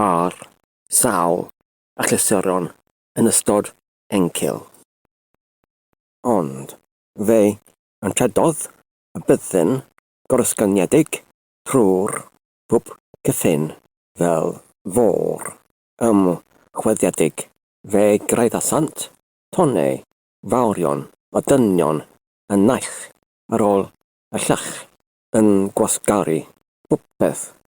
ar sawl achlysuron yn ystod encil. Ond fe anrhedodd y byddin gorysgyniedig trwy'r hwb cyffin fel fôr ymchwiliedig. Fe graeddasant tonnau fawrion o dynion y naill ar ôl y llall yn gwasgaru popeth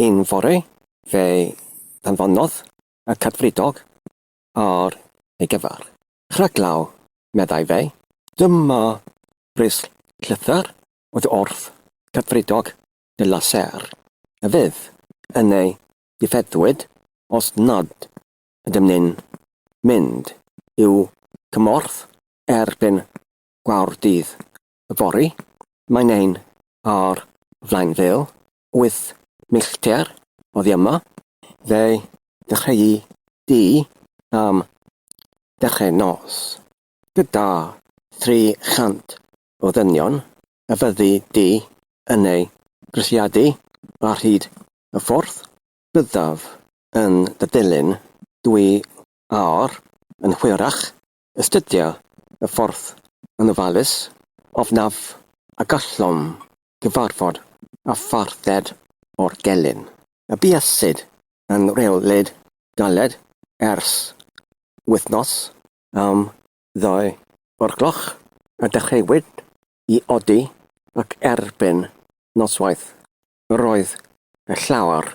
Un fore, fe anfonodd y Cadfridog ar ei gyfer. Rhaglaw, meddai fe, dyma bris llythyr oddi wrth Cadfridog de la Serre, a fydd yn ei ddifeddwyd os nad ydym ni'n mynd i'w cymorth erbyn gwawr dydd yfory. Mae'n ein ar flaen fel wyth millter oddi yma. Fe ddechreuai di am ddechrau nos gyda thri chant o ddynion a fyddi di yn eu grisiadu ar hyd y ffordd. Byddaf yn dy ddilyn dwi ar yn hwyrach Astudia y ffordd yn ofalus ofnaf a gallwn gyfarfod â pharthed o'r gelyn y buasid yn rheolid galed ers wythnos am ddau o'r gloch a dechreuwyd i odi ac erbyn noswaith yr oedd llawer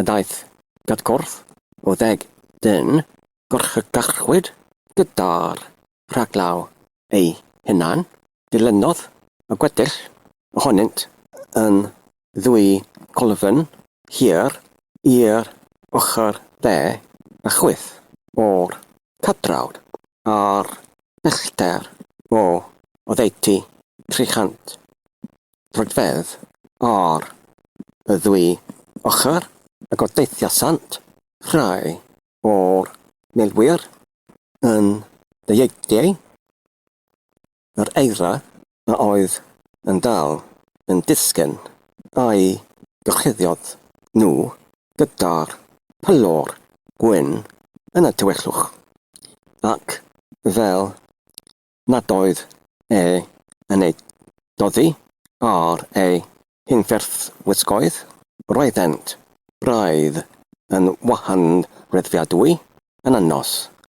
a daeth at gorff o ddeg dyn gorchygachwyd gyda'r rhaglaw eu hunain, dilynodd y gweddill ohonynt yn ddwy golofn hir i'r ochr dde a chwith o'r cadrawd ar bellter o oddeutu 300 troedfedd ar y ddwy ochr ac o deithiasant rhai o'r milwyr yn ddieuedu. Yr eira a oedd yn dal yn disgyn a'i gyrchuddiad nhw gyda'r pylor gwyn yn y tywyllwch, ac fel nad oedd e yn eu doddi ar eu hunferthwisgoedd, roeddent braidd yn wahanreddfiadwy yn y nos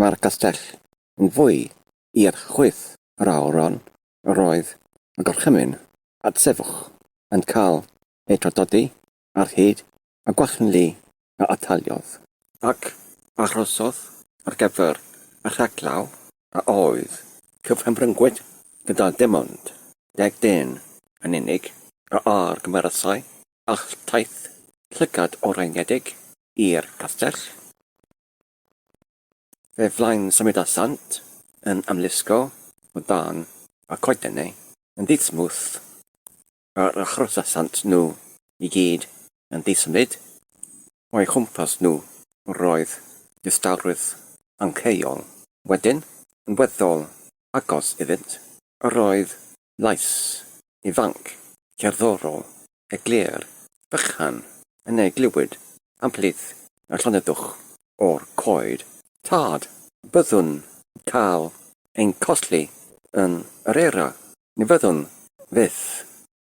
Mae'r castell yn fwy i'r chwith yr awyron yr oedd y gorchymyn a'r sefwch yn cael eu tradodi ar hyd y gwalchni a ataliodd, ac arhosodd ar gyfer y rhaglaw a oedd cyfhymryngwyd gyda dim ond deg dyn yn unig a argymerasai alltaith llygad oreiniedig i'r castell. Fe flaen-symudasant yn amlysgo o dan y coetenau yn ddi-smwth yr achrosasant nhw i gyd yn ddi-symud o'u chwmpas nhw, roedd distawrwydd angheuol wedyn yn weddol agos iddynt, yr oedd Llais ifanc, cerddorol, eglur, bychan, yn ei glywyd am plith na llonyddwch o'r coed. Tad, byddwn cael ein colli yn yr era, ni fyddwn fyth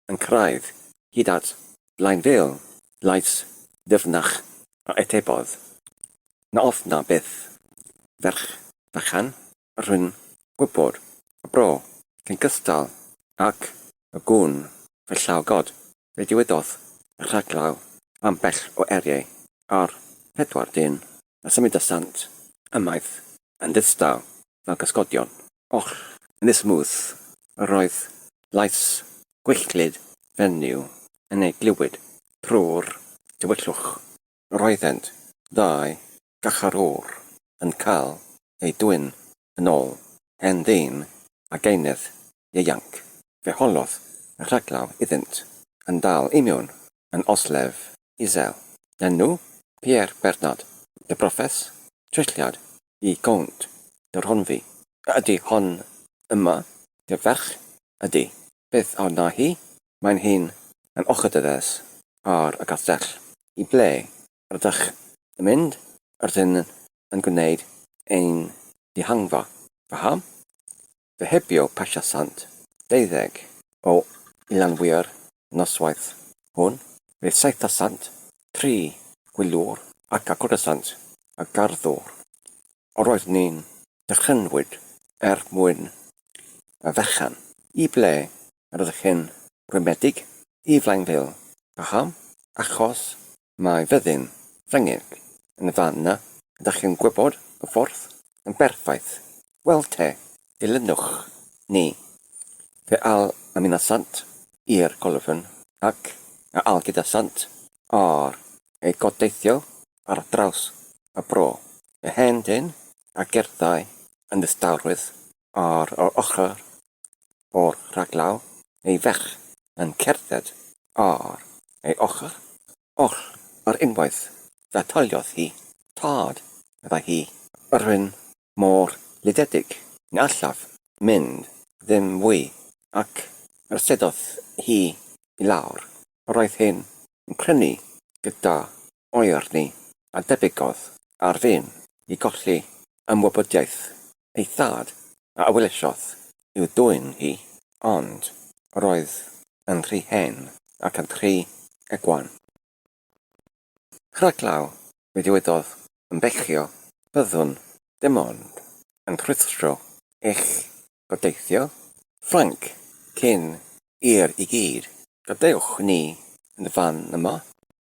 yn cyrraedd hyd at Blaenfil, llais ddyfnach a atebodd, Na ofna byth, ferch fychan, rhwng gwybod y bro cyn cystal ac y gwn fe llaw God, fe dywedodd y rhaglaw ambell o eiriau a'r pedwar dyn a symudasant ymaith yn ddistaw fel cysgodion. Och, yn ddismuth yr oedd llais gwylltglyd fenyw yn ei glywed trwy'r dywyllwch. roeddent ddau garcharor yn cael eu dwyn yn ôl hen ddyn a gaenedd ieuanc, fe holodd y rhaglaw iddynt, yn dal i mewn yn oslef isel, enw Pierre Bernard de Profes, trilliad i Gownt de Rhonfi. A ydy hon yma dy ferch ydy? Beth a wna hi? Mae'n hŷn, mae'n ochr dy ddes, ar y castell. I ble rydych yn mynd? Rydyn yn gwneud ein dihangfa. Paham? Fe hebio Pasha Sant deuddeg o Ilanwyr y noswaith hwn. Fe saetha Sant tri gwyliwr ac agwrasant y garddwr Yr oedd ni'n dychrynwyd er mwyn y fechan. I ble yr oedd chi'n rhwymedig? I Flaenfil. Paham? Achos mae fyddin Ffrengig yn fan 'na, ydach chi'n gwybod y ffordd yn berffaith. Wel te, dilynwch ni. Fe al a minna sant i'r golofn, ac a al gyda sant ar ei godeithio ar draws y bro. Mae hen dân a gerddai yn ddistawrwydd ar yr ochr o'r rhaglaw, ei ferch yn cerdded ar ei ochr oll ar unwaith fe tholiodd hi. Tad, meddai hi, rwy'n mor lidiedig, ni allaf mynd ddim fwy, ac arsydodd hi i lawr. Roedd hyn yn crynu gyda oerni a debygodd ar fin i golli ymwybyddiaeth ei thad a awylesodd i'w dwyn hi, ond roedd yn rhy hen ac yn rhy egwan. Rhaglaw, fe ddywedodd yn bechio, byddwn dim ond yn rhuthro eich gobeithio, Ffrainc, cyn i'r i gyd gadewch ni yn y fan yma.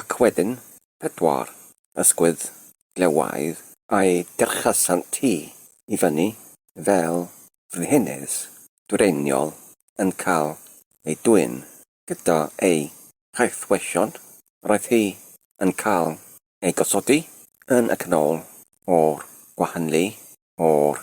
ac wedyn pedwar ysgwydd glewaidd a'i gerchasant hi i fyny fel frenhines dwyreiniol yn cael ei dwyn gyda ei chaethweision, yr oedd hi yn cael ei gosodi yn y canol o'r gwahanlu o'r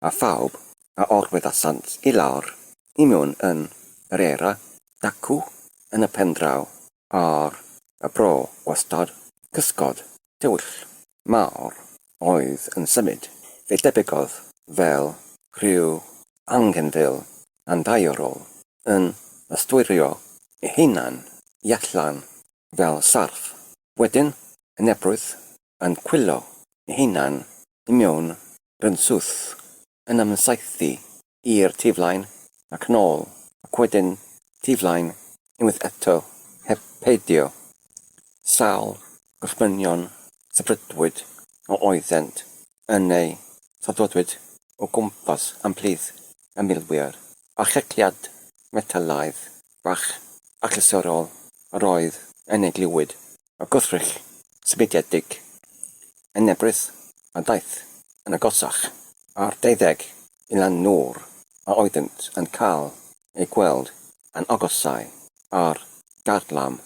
a phawb a orweddasant i lawr i mewn yn yr era dacw yn y pendraw ar y bro wastad cysgod tywyll mawr oedd yn symud, fe debygodd fel rhyw anghenfil anddaearol yn ystwyrio ei hunan i allan fel sarff, wedyn yn ebrwydd yn chwilio ei hunan i mewn rhynswth, yn ymsaethu i'r tu flaen ac nôl, ac wedyn tu flaen unwaith eto heb peidio. Sawl gorchmynion sefydlwyd a oeddent yn eu saddodwyd o gwmpas ymhlith y milwyr, a checliad metelaidd bach achlysurol yr oedd yn ei glywyd Mae gwrthrych symudiedig yn Ebrill a daeth yn agosach ar 21 nôr a oeddynt yn cael eu gweld yn agosau ar garlam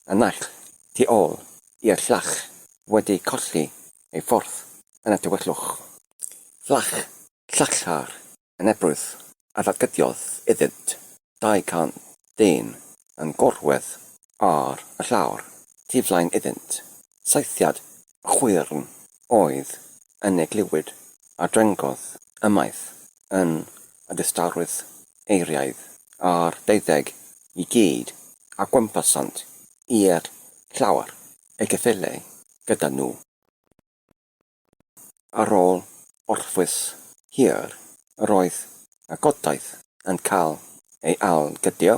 y naill tu ôl i'r llall wedi colli ei ffordd yn y tywyllwch. Llall llachar yn Ebrill a dargediodd iddynt 200 dyn yn gorwedd ar y llawr tu flaen iddynt, saethiad chwyrn oedd yn ei glywyd a drengodd ymaith yn y distawrwydd eiriaidd a'r deuddeg i gyd a gwmpasant i'r llawr, ei gyffelyai gyda nhw. Ar ôl orffwys hir yr oedd y godaith yn cael ei ail-gydio,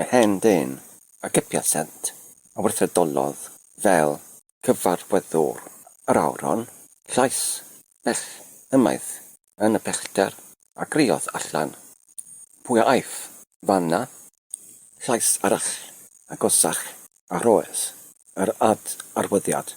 yr hen ddyn a gybiasent a weithredolodd fel cyfarwyddwr yr aur hon, llais bell ymaith yn y pellter, a griodd allan, Pwy a aiff fan 'na? Llais arall, agosach a rhoes yr ad-arwyddiad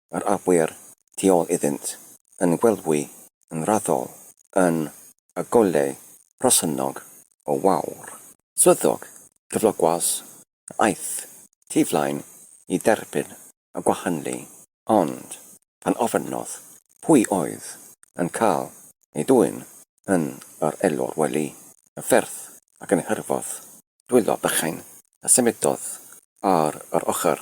yr arwyr tu ôl iddynt yn gwelwi yn raddol yn y golau rhosynnog o wawr. Swyddog cyflogwas a aeth tu flaen i dderbyn y gwahynlu, ond pan ofynnodd pwy oedd yn cael ei dwyn yn yr elwr wely y ffyrdd ac yn hyrfodd dwylo bychain a symudodd ar yr ochr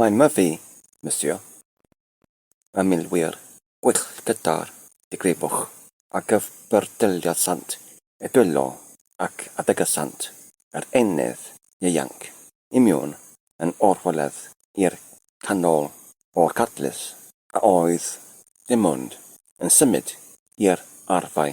Mae Murphy, Monsieur, yn milwyr gwych gyda'r digrifwch a gyfyrdeliasant y dwylo ac a ddygysant yr eneth ieuanc i miwn yn orfoledd i'r canol o'r cadlys a oedd dim ond yn symud i'r arfau.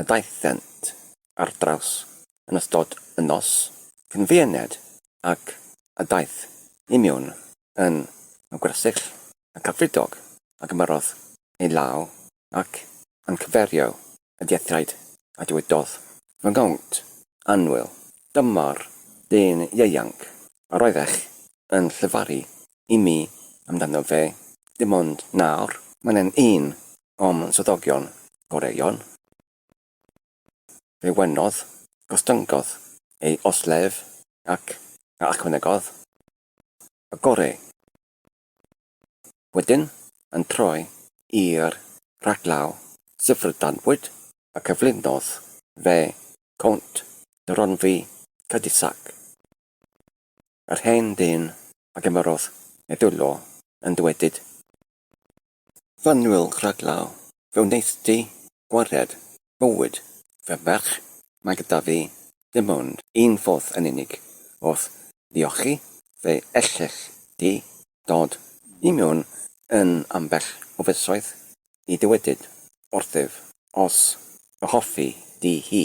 a daethant ar draws yn ystod y nos cynfieniad ac a daeth i mewn yn y gwersyll y Cadfridog a gymerodd ei law ac yn cyferio y diethiaid a dywedodd, Fy ngownt annwyl, dyma'r dyn ieuanc yr oeddech yn llefaru i mi amdano fe dim ond nawr. Mae e'n un o'm swyddogion gorau Ion, fe wenodd, gostyngodd ei oslef ac a ychwanegodd, y gorau. Wedyn, yn troi i'r rhaglaw syfrdanbwyd y cyflwynodd fe, Count de Ronwy, Cadusac. yr hen ddyn a gymerodd ei ddwylo yn dywedyd, Fanwyl Rhaglaw, fe wnaeth di gwared bywyd fy merch, mae gyda fi dim ond un ffordd yn unig o'th ddiolchu, fe ellech di dod i mewn yn ambell o fisoedd i dywedyd wrthyf os fy hoffi di hi.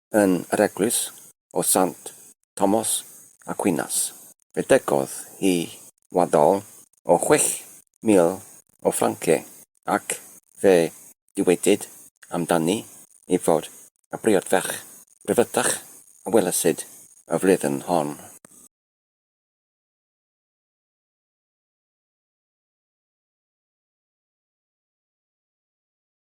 yn yr eglwys o Sant Tomos Aquinas. Fe ddygodd hi waddol o chwech mil o franciau, ac fe dywedid amdani ei fod y briodferch bryfytach a welasid y flwyddyn hon.